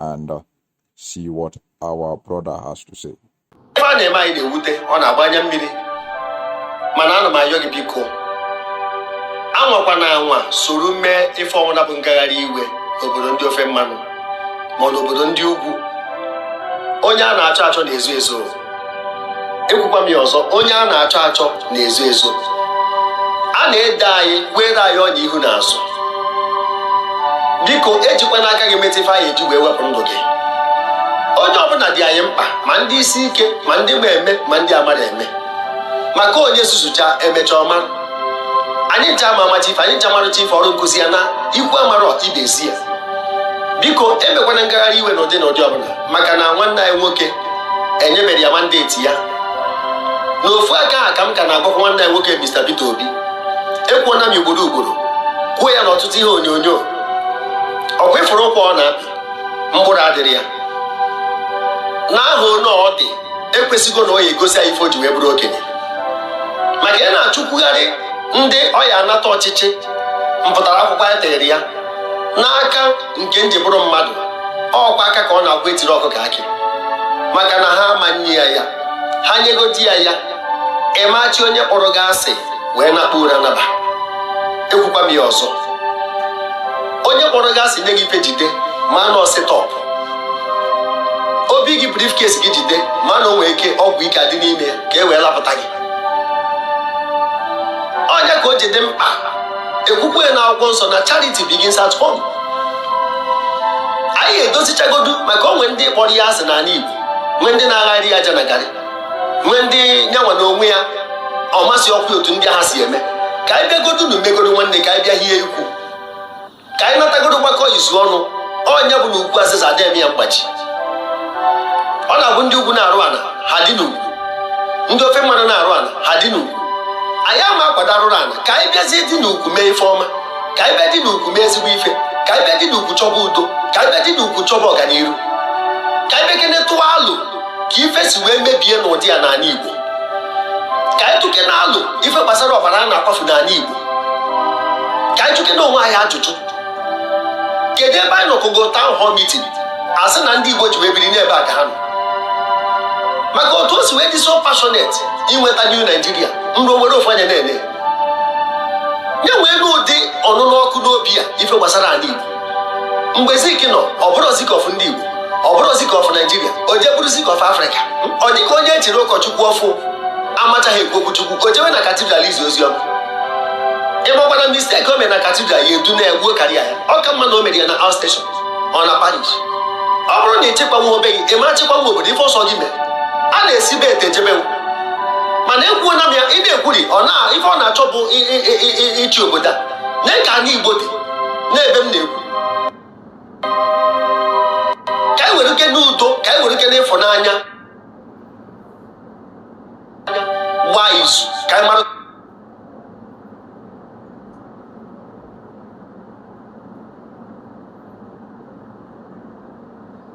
and uh, see what our brother has to say. Ife a na-eme anyị na-ewute ọ na-agba anya mmiri mana ana m ayọ gị biko anwakwana anwa soro mee ife ọbụna bụ ngagharị iwe n'obodo ndị ofe mmanụ ma ọ bụ n'obodo ndị ugwu onye a na-achọ achọ na-ezo ezo ekwukwa m ya ọzọ onye a na-achọ achọ na-ezo ezo a na-ede anyị kwere anyị ọnya ihu na azụ biko ejikwana aka gị meta ife a ya eji wee wepụ ndụ gị onye ọbụla dị anyị mkpa ma ndị isi ike ma ndị ma eme ma ndị amarọ eme maka onye zuzucha e mecha ọ mara anyị ncha ama amacha ife anyị ncha maracha ife ọrụ nkụzi ana ikwu amarọ ibe ezi ya biko emekwana ngagharị iwe n'ụdị n'ụdị ọbụla maka na nwanne anyị nwoke enyebere ya mandate ya n'ofu aka a ka m ka na-agwakwa nwanne anyị nwoke Mr. Peter Obi ekwuona m ugboro ugboro kwuo ya n'ọtụtụ ihe onyonyo ọkwa ị fụrụ ụkwa ọ na-apị mkpụrụ adịrọ ya na aha onye ọ dị ekwesịgo na ọ ya egosi ya ife o ji wee bụrụ okenye maka ị na-achụkwugharị ndị ọ ya anata ọchịchị mpụtara akwụkwọ ya tere ya n'aka nke m ji bụrụ mmadụ ọkwa aka ka ọ na-agwa etiri ọkụkọ akị maka na ha ama enye ya ya ha nyegodi ya ya ị ma achị onye kpọrọ gị asị wee nakpuo ụra naba ekwukwa m ya ọzọ onye kpọrọ gị asị nye gị ife jide ma na ọ set up obi gị briefcase gị jide ma na o nwee ike ọgwụ ike adị n'ime ya ka e wee lapụta gị ọ nya ka o ji dị mkpa ekwukwe na akwụkwọ nsọ na charity begins at home anyị edozichagodu maka o nwee ndị kpọrọ ya asị n'ala Igbo nwee ndị na-agharị ya janagarị nwee ndị nyanwa na onwe ya ọ masị ọkwa otu ndị ha si eme ka anyị bịagodu na umegodo nwanne ka anyị bịa hie ikwu ka anyị natagodo gbakọ izu ọnụ ọ nya bụ na ukwu azịza adịghị ya mgbaji ọ na-abụ ndị ugwu na-arụ ana ha dị n'ukwu ndị ofe mmanụ na-arụ ana ha dị n'ukwu anyị ama akwado arụrụ ana ka anyị bịazie dị n'ukwu mee ife ọma ka anyị bịa dị n'ukwu mee ezigbo ife ka anyị bịa dị n'ukwu chọba udo ka anyị bịa dị n'ukwu chọba ọganiru ka anyị bịakene tụọ alo ka ife si wee mebie n'ụdị a n'ala Igbo ka anyị tụkene alo ife gbasara ọbara a na-akwafu n'ala Igbo ka anyị jụkene onwe anyị ajụjụ kedu ebe anyị nọkọgo town hall meeting asị na ndị Igbo ji wee biri n'ebe a ka ha nọ maka otu o si wee dị so passionate inweta new Nigeria nrụ nwere ofu anya na-ene ya nwee ụdị ọnụnụ ọkụ n'obi a ife gbasara ala Igbo mgbe Zik nọ ọ bụrọ Zik of ndị Igbo ọ bụrọ Zik of Nigeria o je bụrụ Zik of Africa ọ dịka onye echiri ụkọchukwu ọfụ amachaghị ekwu okwu Chukwu o jewe na cathedral izi ozi ọma ịgbakwara mistake o mere na cathedral ya edu na-egbuo karịa ya ọ ka mma na o mere ya na outstation ọ na parish ọ bụrụ na ị chịkwanwọ be gị ị ma chịkwanwu obodo ife ọsọ gị mere a na-esi be ete ejebe mana ekwuona m ya ị na-ekwuri ife ọ na-achọ bụ ịchị obodo a na ka anyị igbo dị n'ebe m na-ekwu ka anyị were ike n'udo ka anyị were ike n'ịfụnanya gbaa izu ka anyị mara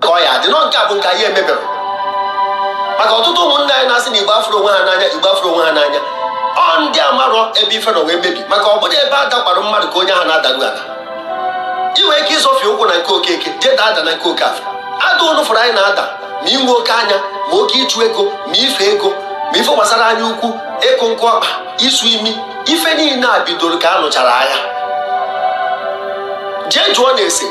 ka ọ ya adị nọ nke a bụ nke anyị emebere maka ọtụtụ ụmụnne anyị na-asị na igbo afụrọ onwe ha n'anya igbo afụrọ onwe ha n'anya ọ ndị amarọ ebe ife nọ wee mebi maka ọ bụrọ ebe a dakwara mmadụ ka onye ahụ na-adaru ala ị nwere ike ịzọfie ụkwụ na nke okeke jee daa ada na nke okafọ ada ụnụ fụrụ anyị na-ada ma inwe oke anya ma oke ịchụ ego ma ife ego ma ife gbasara anya ukwu ịkụ nkụ ọkpa isu imi ife niile a bidoro ka a nụchara agha jee jụọnụ ese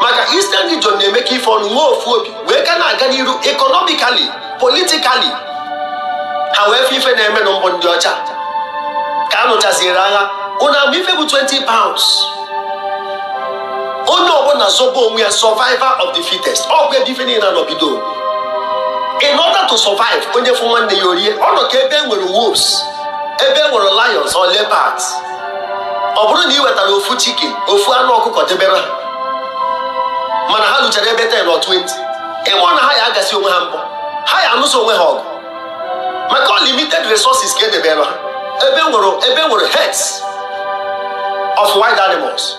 maka Eastern Region na-emekọ ife ọnụ nwee ofu obi wee ka na-aga n'iru economically politically ha wee fe ife na-eme na mbụ ndị ọcha ka a nụchaziere agha ụnụ ama ife bụ 20 pounds onye ọbụla zọba onwe ya survival of the fittest ọ bụ ebe ife niile a nọ bido in order to survive onye fụ nwanne ya o rie ọ nọ ka ebe e nwere wolves ebe e nwere lions or leopards ọ bụrụ na ị wetara ofu chicken ofu anụ ọkụkọ debere ha mana ha luchara ebe 10 or 20 ị fụ na ha ya agasị onwe ha mbọ ha ya anụso onwe ha ọgụ maka limited resources ka e debere ha ebe e nwere herds of wild animals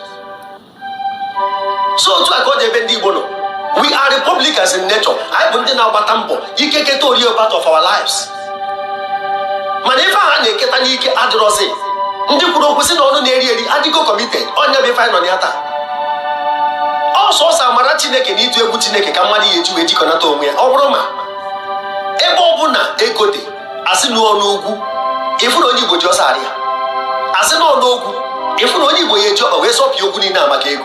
so otu a ka ọ dị ebe ndị Igbo nọ we are republicans in nature anyị bụ ndị na-agbata mbọ ike keta o rie part of our lives mana ife a na-eketa n'ike adịrọzi ndị kwuru okwu sị na ọnụ na-eri eri adịgo committed ọ ya bụ ife anyị nọ ya taa ọ sọọsọ amara chineke na ịtụ egwu chineke ka mmadụ ya eji wee jikọnata onwe ya ọ bụrụ ma ebe ọbụla ego dị a sị na ọ n'ugwu ị fụ na onye igbo ji ọsọ arịa a sị na ọ n'ogwu ị fụ na onye igbo ya eji ọkpa wee zọpịa ogwu niile a maka ego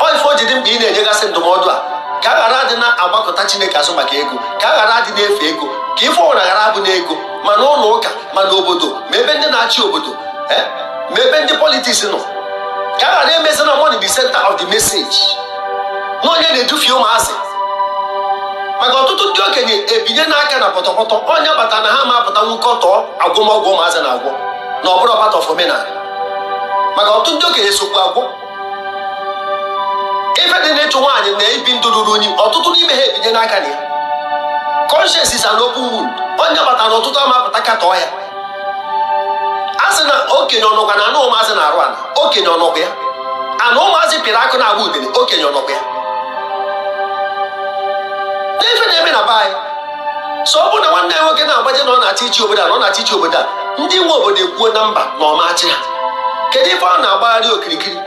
ọ ife o ji dị mkpa ị na-enyegasị ndụmọdụ a ka a ghara adị na-agbakọta chineke azụ maka ego ka a ghara adị na-efe ego ka ife ọbụla ghara abụ na ego ma na ụlọ ụka ma na obodo ma ebe ndị na-achị obodo eh, ma ebe ndị politics nọ ka a ghara emezi na money the center of the message na onye na-edufie ụmụazị maka ọtụtụ ndị okenye ebinyena aka na pọtọpọtọ ọ ya kpata na ha ama apụtanwu katọọ agwọm ọgwụ ụmụazị na-agwọ na ọ bụrụ part of omenala maka ọtụtụ ndị okenye sokwu agwọ ife dị n'ịchụ nwaanyị na ibi ndụ ruru unyi ọtụtụ n'ime ha ebinyena aka na ya conscience is an open wound ọ ya kpata na ọtụtụ ama apụta katọọ ya a sị na okenye ọ nọkwa na anụ ụmụazị na-arụ ana okenye ọ nọkwa ya ana ụmụazị pịrị akụ na-agba udene okenye ọ nọkwa ya n'ife na-eme na be anyị so ọ bụrụ na nwanne ya nwoke na-agbaje na ọ na-achọ ịchị obodo a na ọ na-achọ ịchị obodo a ndị nwe obodo ekwuo na mba na ọ ma-achị ha kedu ife ọ na-agbagharị okirikiri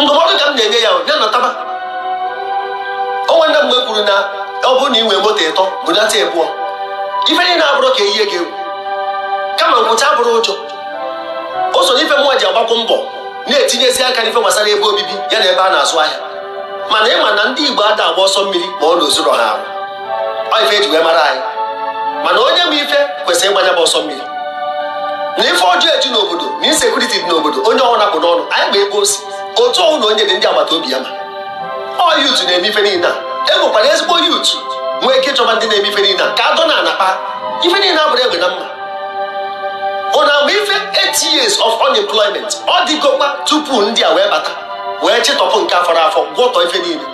ndụmọdụ ka m na-enye ya ya nataba o nwere mgbe kwuru na ọ bụrụ na ị nwee moto ịtọ bunata ịbụọ ife niile a abụrọ ka e yie gị egwu kama nkwụcha abụrọ ụjọ o so n'ife mụnwa ji agbakwu mbọ na-etinyezi aka n'ife gbasara ebe obibi ya na ebe a na-azụ ahịa mana ị ma na ndị Igbo ada agba ọsọ mmiri ma ọ na o zurọ ha ahụ ọ ife e ji wee mara anyị mana onye ma ife kwesịrị ịgba nya bụ ọsọ mmiri na ife ọjọọ eju n'obodo na insekuriti dị n'obodo onye ọbụna a kpụ n'ọnụ anyị ma ebe o si otu ọbụna onye dị ndị agbata obi ya ma ọ youth na-eme ife niile a e nwekwara ezigbo youth nwee ike ịchọba ndị na-eme ife niile a ka adọ na ana kpaa ife niile abụrọ egbe na mma unu ama ife 8 years of unemployment ọ dịgokwa tupu ndị a wee bata wee chịtọpụ nke fọrọ afọ gwọtọ ife niile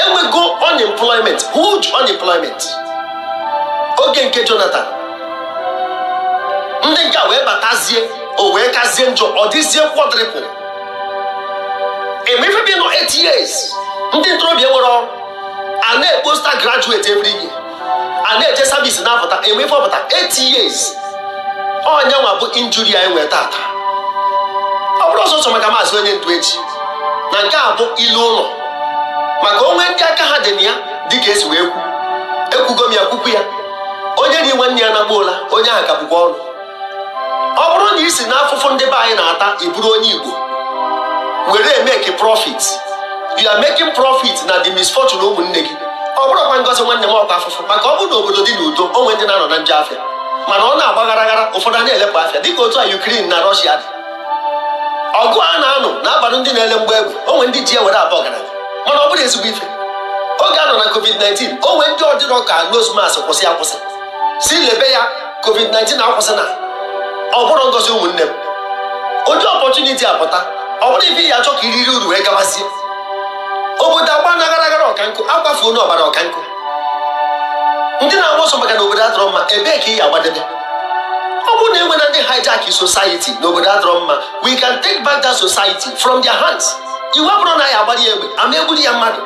e nwego unemployment huge unemployment oge nke Jonathan ndị nke a wee batazie o wee kazie njọ ọ dịzie quadruple ị ma ife bụ ịnọ 8 years ndị ntorobịa enwerọ ọrụ a na-ekpopụta graduate every year a na-eje service na-apụta ị ma ife ọ pụta 8 years ọ nya nwa bụ injury anyị nwere taata ọ bụrọ sọsọ maka maazị onye ndu e ji na nke a bụ ilu ụlọ maka o nwe ndị aka ha dị na ya dịka e si wee kwu ekwugo m ya kwukwu ya onye ree nwanne ya na-agba ọla onye ahụ ka bụkwa ọnụ ọ bụrụ na i si n'afụfụ ndị be anyị na-ata ị bụrụ onye Igbo were emeki profit you are making profit na the misfortune ụmụnne gị ọ bụrọkwa ngozi nwanne m ọ kwa afụfụ maka ọ bụrụ na obodo dị n'udo o nwe ndị na-anọ na njọ afịa mana ọ na-agba aghara aghara ụfọdụ a na-ele mma afịa dịka otu a Ukraine na Russia dị ọgụ a na-anụ na-abalụ ndị na-ele mgbọ egbe o nwe ndị ji ya were abụ ọgaranya mana ọ bụrọ ezigbo ife oge a nọ na covid-19 o nwe ndị ọ dịrọ ka nose mask kwụsị akwụsị sị lebe ya covid-19 akwụsịna ọ bụrọ ngozi ụmụnne m ụdị opportunity a pụta ọ bụrọ ife ị ya-achọ ka i riri uru wee gabazie obodo agbana aghara aghara ọka nkụ akwafuna ọbara ọka nkụ ndị na-agba ọsọ maka na obodo adọrọ mma ebee ka ị ya-agbadebe ọ bụrụ na e nwena ndị hijack society na obodo adọrọ mma we can take back that society from their hands iwe abụrọ na a ya-agbara ya egbe a ma-egburu ya mmadụ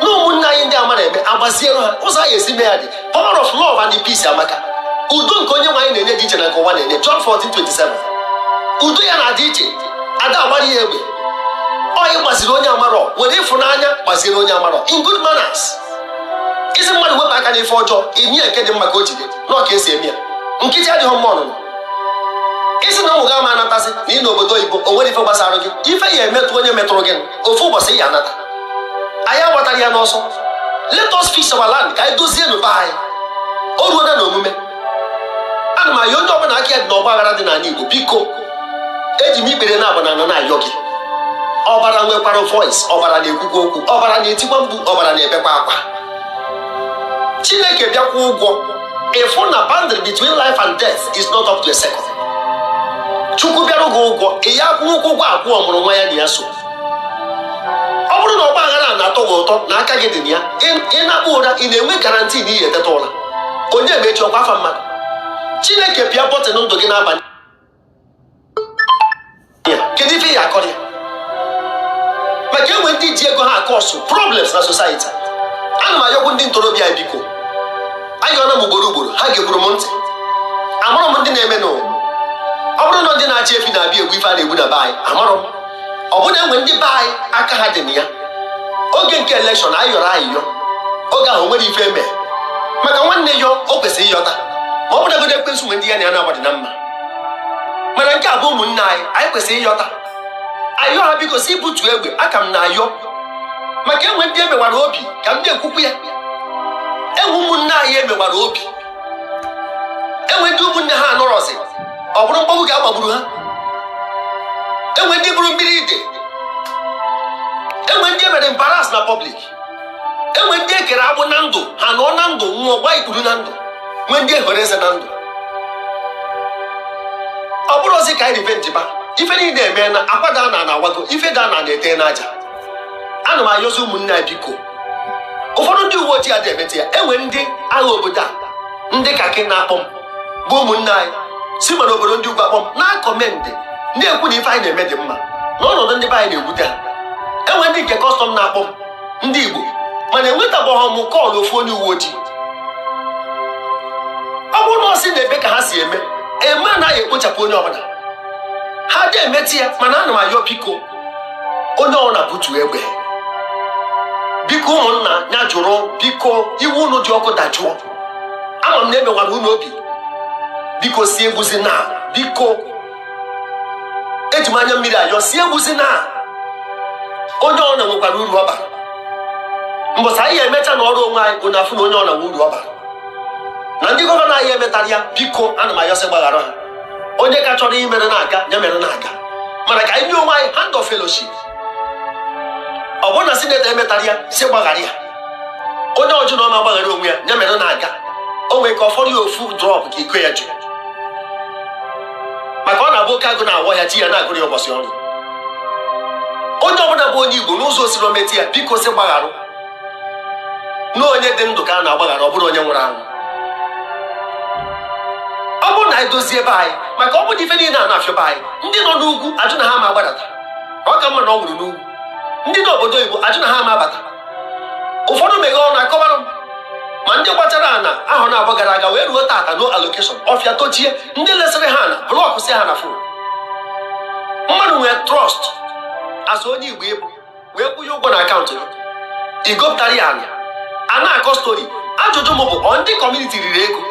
na ụmụnne anyị ndị amarọ eme agbaziere ha ụzọ a ya-esi mee ya dị power of love and peace amaka udo nke onye nwe anyị na-enye dị iche na nke ụwa na-enye John 14:27 udo ya na-adị iche ada agbara ya egbe ọ gbaziri onye amarọ were ịfụnanya gbaziere onye amarọ in good manners ị sị mmadụ wepụ aka n'ife ọjọọ enye ya nke dị mma ka o jide na ọ ka esi eme ya nkịtị adịghị mma ọnụnụ ị sị na ụmụ gị ama anatazi na ị nọ obodo oyibo o nwere ife gbasara gị ife ya emetụ onye metụrụ gị ofu ụbọchị ya anata anyị agbatara ya n'ọsọ let us fix our land ka anyị dozienụ be anyị o ruo na omume ana m ayọ onye ọbụla aka ya dị n'ọgba aghara dị n'anị Igbo biko eji m ikpere naabọ na na-ayọ gị ọbara nwekwara voice ọbara na-ekwukwa okwu ọbara na-etikwa mkpu ọbara na-ebekwa akwa Chineke bịakwa ụgwọ ị fụ na boundary between life and death is not up to a second Chukwu bịara gị ụgwọ ị ya akwụkwa ụgwọ akwụ ọmụrụ nwa ya na ya so ọ bụrụ na ọgba aghara a na-atọ gị ụtọ na aka gị dị na ya ị- ị nakpuo ụra ị na-enwe garanti na ị ya eteta ụra onye ma echi ọ kwa afa mmadụ chineke pịa bọtịn ndụ gị n'abalị a kedu ife ị ga-akọrọ ya maka enwe ndị ji ego ha akọọsụ problems na society ana m ayọkwu ndị ntorobịa anyị biko ayọna m ugboro ugboro ha geburu m ntị amarọ m ndị na-eme nụwa ọ bụrụ na ndị na-achị efi na-abịa egbu ife a na-egbu na be anyị amarọ m ọ bụrụ na enwe ndị be anyị aka ha dị na ya oge nke elekshọn anyị yọrọ ayịyọ oge ahụ nwere ife eme maka nwanne yọọ o kwesịrị ịyọta ma ọbụnagodu ekwensu nwe ndị ya na ya naabọ dị na mma mana nke a bụ ụmụnne anyị anyị kwesịrị ịyọta ayọ ha biko sị butuo egbe aka m na-ayọ maka enwe ndị emewara obi ka m na-ekwukwu ya enwe ụmụnne anyị emewara obi enwe ndị ụmụnne ha anọrọzi ọ bụrụ mgbagbu ka agbagburu ha enwe ndị bụrụ mmiri ide enwe ndị emere embarrass na public enwe ndị ekere agbụ na ndụ ha nọ na ndụ nwụọ gba ikpuru na ndụ nwe ndị ehoro eze na ndụ ọ bụrụ sị ka anyị revenge ba ife niile emeena akwa daa n'ana awago ife daa n'ana eteena aja ana m ayọzi ụmụnne anyị biko ụfọdụ ndị uwe ojii adị emete ya enwe ndị agha obodo a ndị kakị na-akpọ m bụ ụmụnne anyị si ma n'obodo ndị ugwu akpọ m na-akọmendị na-ekwu na ife anyị na-eme dị mma na ọnọdụ ndị be anyị na-ewute ha enwe ndị nke kọstọm na-akpọ m ndị igbo mana enwetabeghị m call ofu onye uwe ojii ọ bụrụ na ọ sị na-eme ka ha si eme eme anaghị ekpochapụ onye ọbụla ha adị emete ya mana ana m ayọ biko onye ọbụla butu egbe biko ụmụnna ya jụrụ biko iwe unu dị ọkụ dajụọ ama m na emewara unu obi biko si egbuzina biko eji m anya mmiri ayọ si egbuzina onye ọbụla nwekwara uru ọ bara mbọsị anyị emecha nọrọ onwe anyị unu afụ na onye ọbụla nwe uru ọ bara na ndị gọvanọ anyị emetarọ ya biko ana m ayọ sị gbaghara ha onye ka chọrọ imere na-aga ya mere na-aga mana ka anyị nye onwe anyị hand of fellowship ọ bụrụ na sinetọ emetarọ ya si gbaghara ya onye ọ jụ na ọ ma agbaghara onwe ya ya mere na-aga o nwere ka ọ fọrọ ya ofu drop ka iko ya ju maka ọ na-abụ oke agụ na-awọ ya chi ya na-agụrụ ya ụbọchị ọnwụ onye ọbụla bụ onye igbo n'ụzọ o sina meta ya biko si gbagharụ na onye dị ndụ ka a na-agbaghara ọ bụrọ onye nwụrụ anwụ ọ bụrụ na anyị dozie be anyị maka ọ bụ ife niile a na-afịọ be anyị ndị nọ n'ugwu ajụ na ha ma agbadata ọ ka mma na ọ nwụrụ n'ugwu ndị nọ obodo oyibo ajụ na ha ma abata ụfọdụ meghe ọnụ akọbara m ma ndị gochara ana ahọ naabọ gara aga wee ruo taata no allocation ọfịa tochie ndị lesịrị ha ana blọkụsị ha na fon mmadụ nwee trust as onye igbo ị bụ wee kwụnye ụgwọ na akaụntụ gị igopụtara ya ana a na-akọ story ajụjụ m bụ ọ ndị community riri ego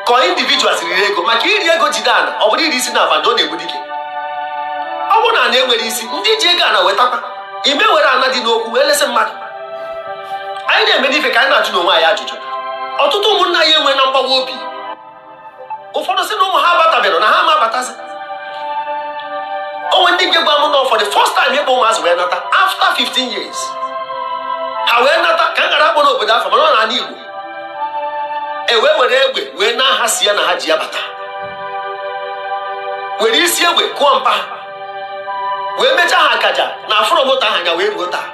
ka ọ individuals riri ego maka iri ego jide ana ọ bụrụ iri isi na abada ọ na-egbu dike ọ bụrụ na ana enwerọ isi ndị ji ego ana wetakwa ị ma ewere ana dị n'okwu wee lesị mmadụ anyị na-emenụ ife ka anyị na-ajụnụ onwe anyị ajụjụ ọtụtụ ụmụnna anyị enweena mgbawa obi ụfọdụ si na ụmụ ha abataberọ na ha ama abatazi o nwee ndị nke gwa m na for the first time ịkpọ ụmụazị wee nata after 15 years ha wee nata ka m ghara ịkpọ obodo afa mana ọ n'ana Igbo e wee were egbe wee naa ha sienna ha ji abata were isi egbe kụọ mpa wee mechaa ha akaja na afụrọ moto ahụ anya wee ruo taa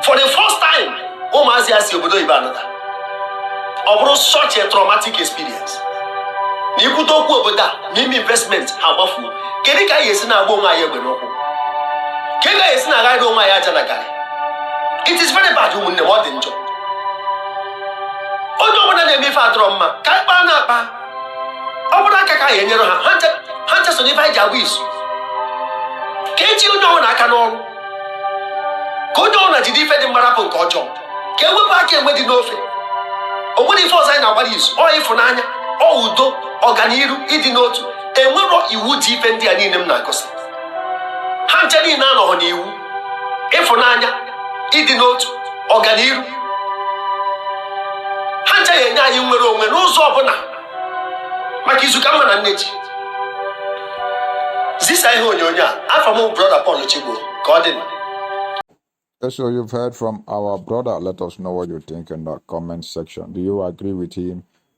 for the first time ụmụazị a si obodo oyibo anata ọ bụrụ such a traumatic experience na ikwute okwu obodo a n'ime investment ha gbafuo kedu ka anyị esi na-agba onwe anyị egbe n'ụkwụ kedu ka anyị esi na-aghanye onwe anyị aja na garị it is very bad ụmụnne m ọ dị njọ onye ọbụla na-eme ife adịrọ mma ka anyị kpaa nya akpa ọ bụrụ aka ka anyị enyere ha ha ncha so n'ife anyị ji agba izu ka eji onye ọbụla aka n'ọrụ ka onye ọbụla jide ife dị mma rapụ nke ọjọọ ka e wepụ aka enwe dị n'ofe o nwerọ ife ọzọ anyị na-agbara izu ọ ịfụnanya ọ udo ọganiru ịdị n'otu enwerọ iwu ji ife ndị a niile m na-agụsị ha ncha niile anọhọ n'iwu ịfụnanya ịdị n'otu ọganiru ha ncha ya-enye anyị nnwere onwe n'ụzọ ọbụla maka izu ka mma na nne ji zisa ihe onyonyo a afọ m brọda Paul Chigbo ka ọ dị nụ So you've heard from our brother. Let us know what you think in the comment section. Do you agree with him?